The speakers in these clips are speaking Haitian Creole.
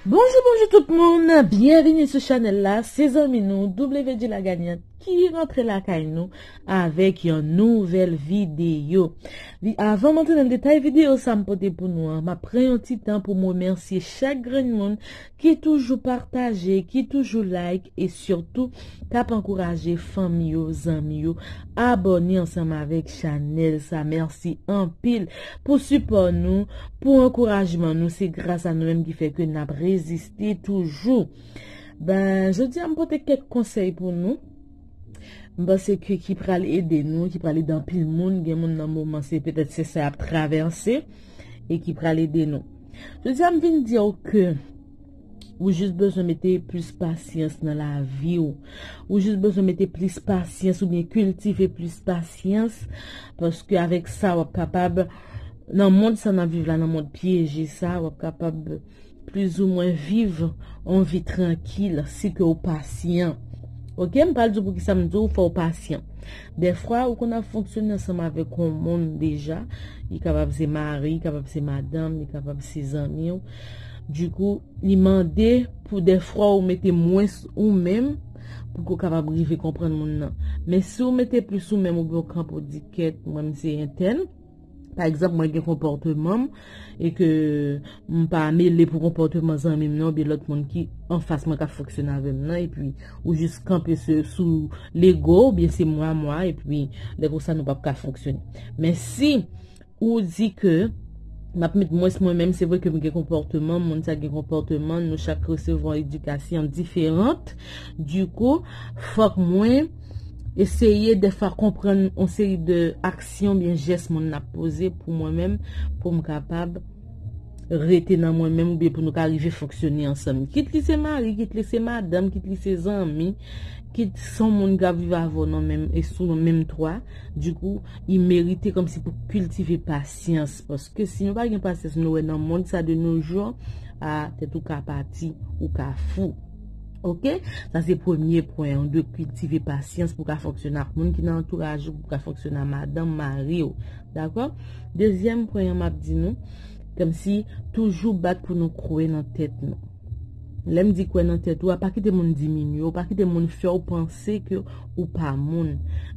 Bonjou bonjou tout moun, byenvini sou chanèl la, se zanmi nou WD la gagnante ki rantre lakay nou avèk yon nouvèl videyo. Li avan m antre nan detay videyo sa m pote pou nou an, m ap pran yon ti tan pou m remèsye chak grenn moun ki toujou pataje, ki toujou like e surtout kap ankouraje fanmi yo, zanmi yo abòne ansanm avèk chanèl sa mèsi anpil pou sipò nou, pou ankourajman nou se gras a nou menm ki fè ke nap reziste toujou ben jodi a m pote kèk konsèy pou nou m panse ke ki pral ede nou, ki pral ede anpil moun, gen moun nan moman se petèt se sa yap travèse e ki pral ede nou. Jodi a m vin di w ke ou jis bezwen mete plis pasyans nan lavi w. Ou jis bezwen mete plis pasyans ou byen kiltive plis pasyans paske avèk sa wap kapab nan mond sa nan viv la nan mond pyeje sa wap kapab plis ou mwen viv on vi trankil si ke ou pasyan. Ok m pral di w poukisa m di w fò w pasyan. Dèfwa ou konn ap fonksyone ansanm avèk yon moun deja, li kapab se mari, li kapab se madanm, li kapab se zanmi w. Dikou, li mande pou dèfwa ou mete mwens ou menm pou ke w kapab rive konprann moun nan. Men si w mete plis ou menm oubyen w kanpe w di kèt mwen m se entèn, Pa egzanp mwen gen konpòteman m e ke m pa mele pou konpòteman zanmi m nan oubyen lòt moun ki anfas mwen kap fonksyone avè m nan epi ou jis kanpe sou lego ou oubyen se mwa mwa epi lè konsa nou pap ka fonksyone. Men si ou di ke m ap met mwens mwen menm se vre ke m gen konpòteman moun sa gen konpòteman nou chak resevwa edikasyon diferant di kou fòk mwen Eseye defwa konprann yon seri de aksyon oubyen jès moun nan ap poze pou mwen menm pou m kapab rete nan mwen menm oubyen pou nou ka rive fonksyone ansanm. Kit li se mari, kit li se madanm, kit li se zanmi, kit son moun k ap viv avè w nan menm e sou yon menm twa, dikou, li merite kòmsi pou kiltive pasyans. Paske si nou pa gen pasyans nou wè nan mond sa de no jou, a, tèt ou ka pati, ou ka fou. Ok, sa se premye pwen, ou dwe kiltive pasyans pou ka fonksyone ak moun ki nan antouraj ou, pou ka fonksyone ak madanm, mari ou. Dakò? Dezyèm pwen an map di nou, kèm si toujou bat pou nou kwe nan tèt nou. Lèm di kwe nan tèt ou, a pa kite moun diminye ou, pa kite moun fè ou panse ke ou pa moun.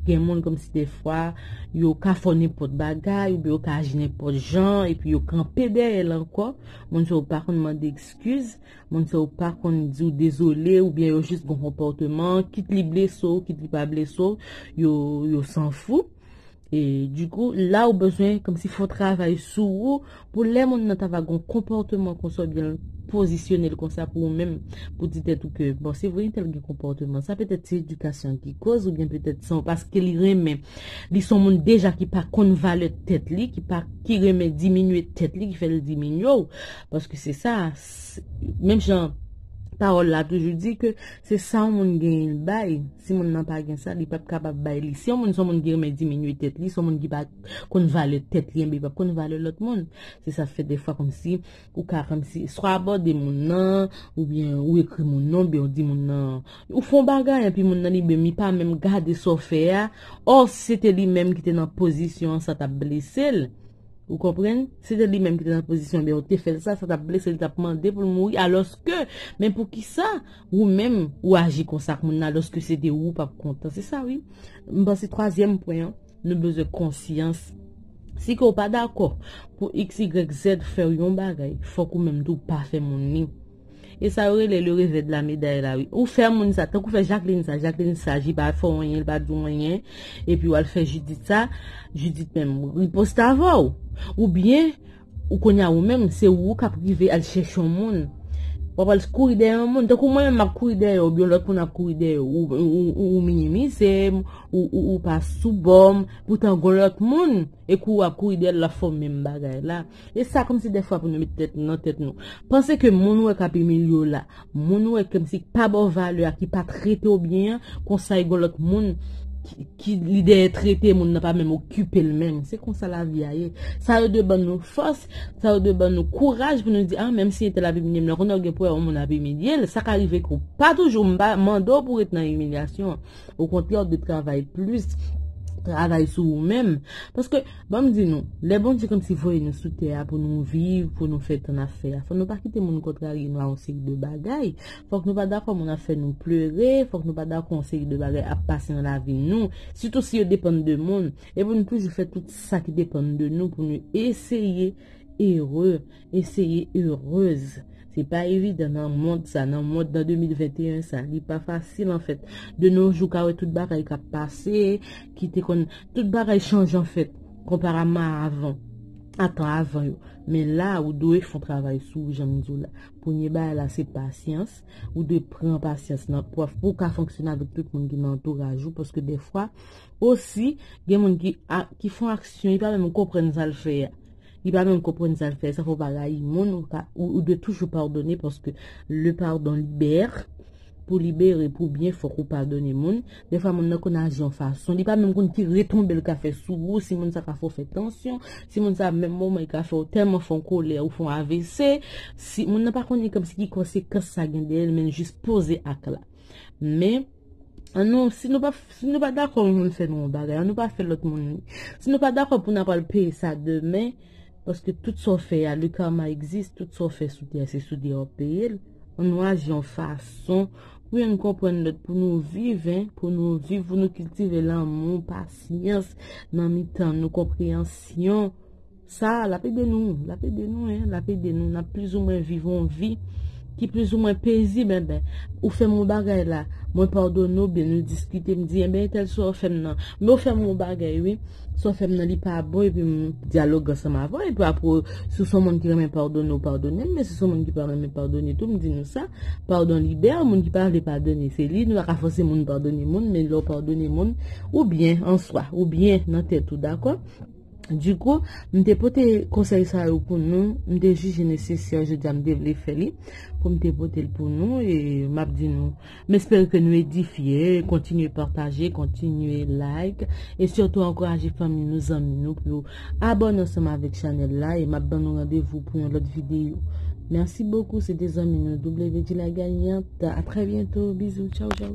Gen moun kèm si defwa, yo ka fò nen pot bagay, ou be yo ka aji nen pot jan, epi yo kanpe dèyèl ankò, moun se ou pa konn mande ekskiz. Moun sa yo pa konn di w dezole oubyen yo jis gon konpòteman, kit li blese w, kit li pa blese w, yo sanfou. E dikou, la ou bezwen kòmsi fè yon travay sou ou pou lè moun nan ta va gon konpòteman konsa oubyen l pozisyone l konsa pou ou menm, pou di tèt ou ke, bon, se vre entèl gen konpòteman sa, petèt se edikasyon an ki kòz oubyen petèt son paske li renmen, li son moun deja ki pa konn valè tèt li, ki renmen diminye tèt li ki fè l diminye w. Paske se sa, menm jan pawòl la toujou di ke se sa yon moun genyen l bay, si moun nan pa gen sa li pap kapab bay li. Si yon moun se yon moun ki renmen diminye tèt li, se yon moun ki pa konn valè tèt li enben li pap konn valè lòt moun. Se sa fè dèfwa kòmsi ou ka kòmsi swa abòde moun nan oubyen ou ekri moun nan oubyen ou di moun nan ou fè yon bagay epi moun nan li menm li pa menm gade sa w fè a, ò si se te li menm ki te nan pozisyon an sa t ap blese l. Ou konprann? Si se te li menm ki te nan pozisyon oubyen ou te fè l sa, sa t ap blese l, li t ap mande pou l mouri. Alòske, men poukisa ou menm ou aji konsa ak moun nan alòske se te ou ou p ap kontan? Se sa wi. M panse twazyèm pwen an, nou bezwen konsyans. Si ke ou pa dakò pou x, y, z fè w yon bagay, fòk ou menm tou pa fè moun li. E sa yo rele le revè de la meday la wi. Ou fè moun sa, tank ou fè Jacqueline sa, Jacqueline sa, li pa fè w anyen, li pa di w anyen, epi w al fè Judith sa, Judith menm riposte avè w. Ou byen, ou kounye a ou menm, se ou k ap rive al chèche yon moun, w ap al kouri dèyè yon moun, tank ou mwen menm m ap kouri dèyè w, oubyen lòt moun ap kouri dèyè w, ou minimize m, ou pa sou bò m, poutan gon lòt moun, e kou w ap kouri dèyè l, l ap fè w menm bagay la. E sa kòmsi dèfwa pou nou met tèt nou nan tèt nou. Panse ke moun ou wè k ap imilye w la, moun ou wè kòmsi k pa ba w valè a, ki pa trete w byen an, konsa gen yon lòt moun ki li dèyè trete moun nan pa menm okipe l menm. Se konsa lavi a ye. Sa yo dwe ban nou fòs, sa yo dwe ban nou kouraj pou nou di a menmsi entèl ap imilye m nan, konnen w gen pou wè yon moun ap imilye l, sa ka rive ke w pa toujou, m pa mande w pou w ret nan imilyasyon an. okontrè ou dwe travay plis travay sou ou menm paske banm di nou lè Bondye kòmsi voye nou sou tè a pou nou viv pou nou fè sa n ap fè a fòk nou pa kite moun kontrarye nou a yon seri de bagay fòk nou pa dakò moun ap fè nou pleure fòk nou pa dakò yon seri de bagay ap pase nan lavi nou sitou si yo depann de moun e pou nou toujou fè tout sa ki depann de nou pou nou eseye ere eseye heureuse se pa evidan nan mond sa nan mond nan 2021 sa li pa fasil anfèt de nos jours ka wè tout bagay kap pase ki te konn tout bagay chanje anfèt konparamman a avan a tan avan yo men la ou dwe fon travay sou ou janm diw la premye bagay la se pasyans ou dwe pran pasyans nan pwaf pou ka fonksyone avèk tout moun ki nan antouraj ou paske defwa osi gen moun ki fon aksyon li pa menm konprann sal fè a. Li pa menm konprann sa l fè, sa fè w pa rayi moun, ou dwe toujou padone paske le pardon libère, pou libere, pou byen fòk ou padone moun, dè fwa moun nan konn aji yon fason, li pa menm konn ki retonbe l ka fè sou ou, si moun sa ka fè w fè tansyon, si moun sa menm moman li ka fè w tèlman fè yon kolè ou fè yon avc, si moun nan pa konn li kòmsi ki konsekans sa gen dèyè l men l jis poze ak la. Men. An nou, si nou pa, si nou pa dakò yon moun fè nou yon bagay, an nou pa fè lòt moun li. Si nou pa dakò pou nou apral peye sa demen, paske tout sa w fè a, le karma existe, tout sa w fè sou tè a, se sou tè a w ap peye l. An nou aji yon fason pou youn konprann lòt, pou nou viv, hein, pou nou viv, pou nou kiltive lanmou, pasyans nan mitan nou, konpreyansyon. Sa a, l ap ede nou, l ap ede nou e, l ap ede nou. N ap plizoumwen viv yon vi ki plizoumwen pezib enben. Ou fè m yon bagay la, mwen padone w oubyen nou diskite, m di enben entèl sa w fè m nan, men w fè m yon bagay wi, sa w fè m nan li pa bon epi m dyaloge ansanm avè w epi apre si w s on moun ki renmen padone w padone m men si w s on moun ki pa renmen padone tou m di nou sa, padon libere moun ki pa vle padone se li, nou pa ka fòse moun padone moun men lè w padone moun ou byen an swa, ou byen nan tèt ou dakò. Du coup, m te pote konsèy sa yo pou nou, m te jije nesesè jodi a m te vle fè li pou m te pote l pou nou e m ap di nou m espere ke nou edifye, kontinye pataje, kontinye like e sitou ankouraje fanmi nou, zanmi nou pou yo abòne ansanm avèk chanèl la e m ap ban nou randevou pou yon lòt videyo. Merci beaucoup, se te zanmi nou WD la gagnante, a très bientôt, bisous, tchau tchau.